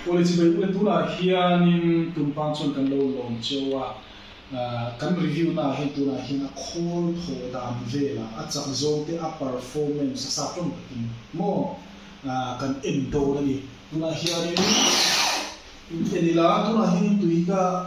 Policy bei ule tunah hianin tumpan chuan kan lo lawm cheu a, kan review naah hei tunah hian a khawl thaw dan vela a chak zawng te a performance a sa tlawm takin maw kan en dawn a ni. Tunah hianin in en ila tunah hian tuika.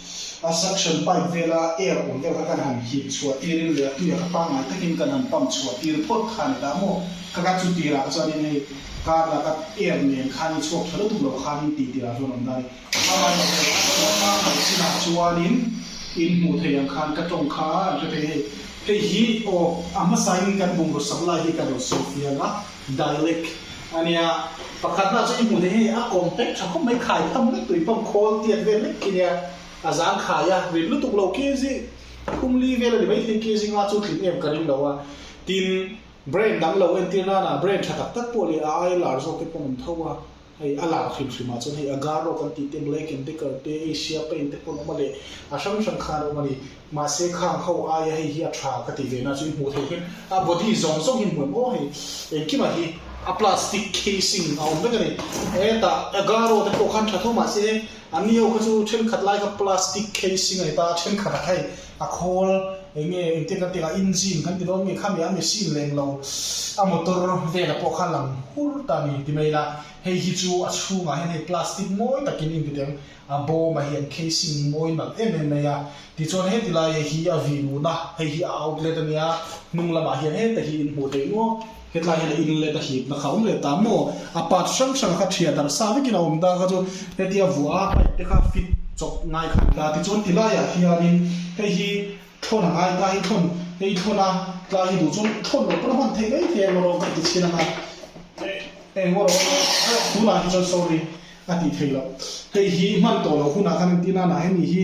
A suction pipe vela air ur deuh kha kan han hip chhuah tir in leh a tuia kha pangngai takin kan han pump chhuah tir phawt kha ani ta maw? Ka gat chu tirah kha chuan in hei car la ka air nen khan i chhuak tha lutuk lo khan in tih tirah chuan awm ta ani. Hmangaih lo theih a, chuan hmangaih sinah chuan in in hmuh theih ang khan ka tawng kha a hre phei hei. Hei hi aw a hmasa in kan bum ru sak lai hi ka lo sawi fial a. Dal lek a nia. Pakhat hna chu i hmuh theih a, a kawm pek tha khawp mai, khai tham mek tui pawm, khawl tiat vel lek khi nia, a zang khai a, rin lutuk lo khi a zing, khum li vel a ni mai thei khi a zing a, chu tling em ka ring lo a, tin, Brain dang lo entir nana, Brain tha tak tak pawh leh a ailar zawk te pawh a awm tho a. Hei a lang hrimhrim ah chuan hei a Garo kan tih te, Black and Decker te, Asia Paint te pawh an awm a leh a hrang hrang khan an awm a ni. Mahse khang ho aia hei hi a tha ka tih ve na chu i hmuh theih hian a body zawng zawng hi hmuh em aw hei engkim ah hi a plastic casing a awm vek a ni. Hetah a Garo te pawh khan tha tho mahse an ni ho kha chu thenkhat lai kha plastic casing a ni ta a thenkhat ah kha hei a khawl eng nge engtin kan tih ang a engine kan ti dawn nge kha mi a machine leh englo a motor vela pawh kha a lang hur ta a ni ti mai la hei hi chu a chhungah hian hei plastic mawi takin engti tiang a bawm a hian casing hi mawi nalh em em mai a tichuan heti laia hi a vihnu na hei hi a outlet a nia hnung lamah hian heta hi in hmuh theih nual. Hetlai hian in let a hip na kha awm leh ta maw? A part hrang hrang kha thiah darh sa vekin a awm ta kha chu heti a vuah a pipe te kha fit chawp ngai kha an ta tichuan ti lai ah hianin hei hi thlawn a ngai ta hi thlawn hei thlawn a tlai hi duh chuan thlawn loh pawn a hman theih mai thei ang marawng ka ti chin ang a eh engmaw rawh tunah hi chuan sorry a ti thei loh hei hi hman tawh loh hunah khan engtin a nai ani hi.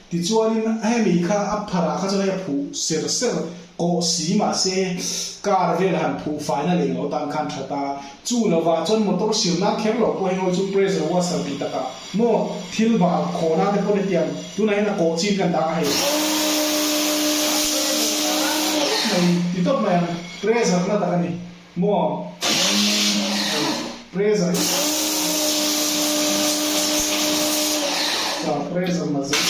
Tichuanin hemi kha a pharah kha chuan hei a phuh ser ser kawh si mahse car vel han phuh faina leh loh tan khan that a, chu lovah chuan motor sir nan kher lo pawh hengawi chu pressure washer tih takah maw thil bal khaw nan te pawn hetiang tunah hian a kawh chin kan dah a hei tawp mai ti tawp mai ang pressure na tak a ni. Maw? Present. Tah present la zir.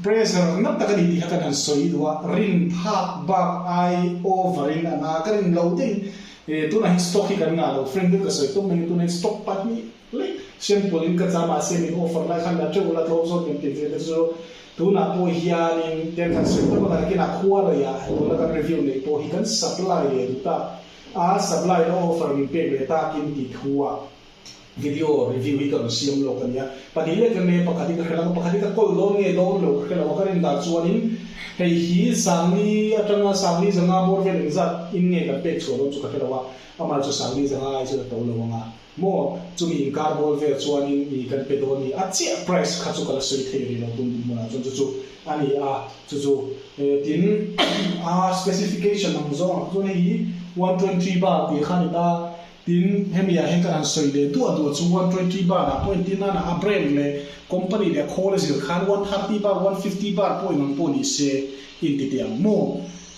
Present nak tak a ni tih kha kan han sawi duh a, rin phak bak ai over in a na ka rin lo deuhin tunah hin stock hi kan ngah lo, friend in ka sawi tum mai a tunah hin stock pahnih, Click. Siamkual in ka cham ah siam in offer lai khan na teuh la tlawm zawt min ti ve te chu tunah pawh hianin tel han siam tawk a kan kina khualei ah tun la kan review nei pawh hi kan supply leh duh ta a supply na offer min pek leh ta kin ti thu a video review hi ka rawn siam lawk a nia pahnih leh ka nia pakhat hi ka hre lak a pakhat hi ka call dawn nge dawn lo ka hre lo a ka ring dan chuan in hei hi sangli atanga sangli zanga bawr vel engzat in nge kan pek chhuah dawn chu ka hre lo a amal chu sangli zanga ai chu ka to lo ang a. Maw? Chumi inkar bawl vel chuanin ih kan pe dawn ni a chiah price kha chu ka la sawi thei a nih lo tum hmunah chuan chu chu a ni a chu chu e tin a specification ang zawng ah chuan hei hi one twenty bar tih kha a ni ta tin hemi ah hian ka ra'n sawi leh duah duah chu one twenty bar ah pawh a intir nan a a brand leh company leh a khawl a zir khan one thirty bar one fifty bar pawhin ang pawh ni se inti teh ang maw?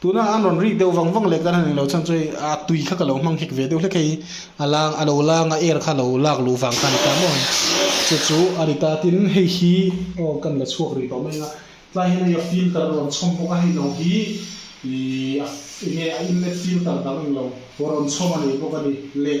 Tuna an rawn rik deuh vang vang leh kan han inlo chhan chu hei a tui kha ka lo hmang hek ve deuh hlek hei, a lang a lo lang a air kha lo lak luh vang kha a ni ta maw? Che chu a ni ta, tin hei hi aw kan la chhuak rih tawh mai anga tlai hian hei a filter a rawn chhawm bawk a, hei lo hi ih a enge a inlet filter dang englo rawn chhawm a nih bawk a ni leh.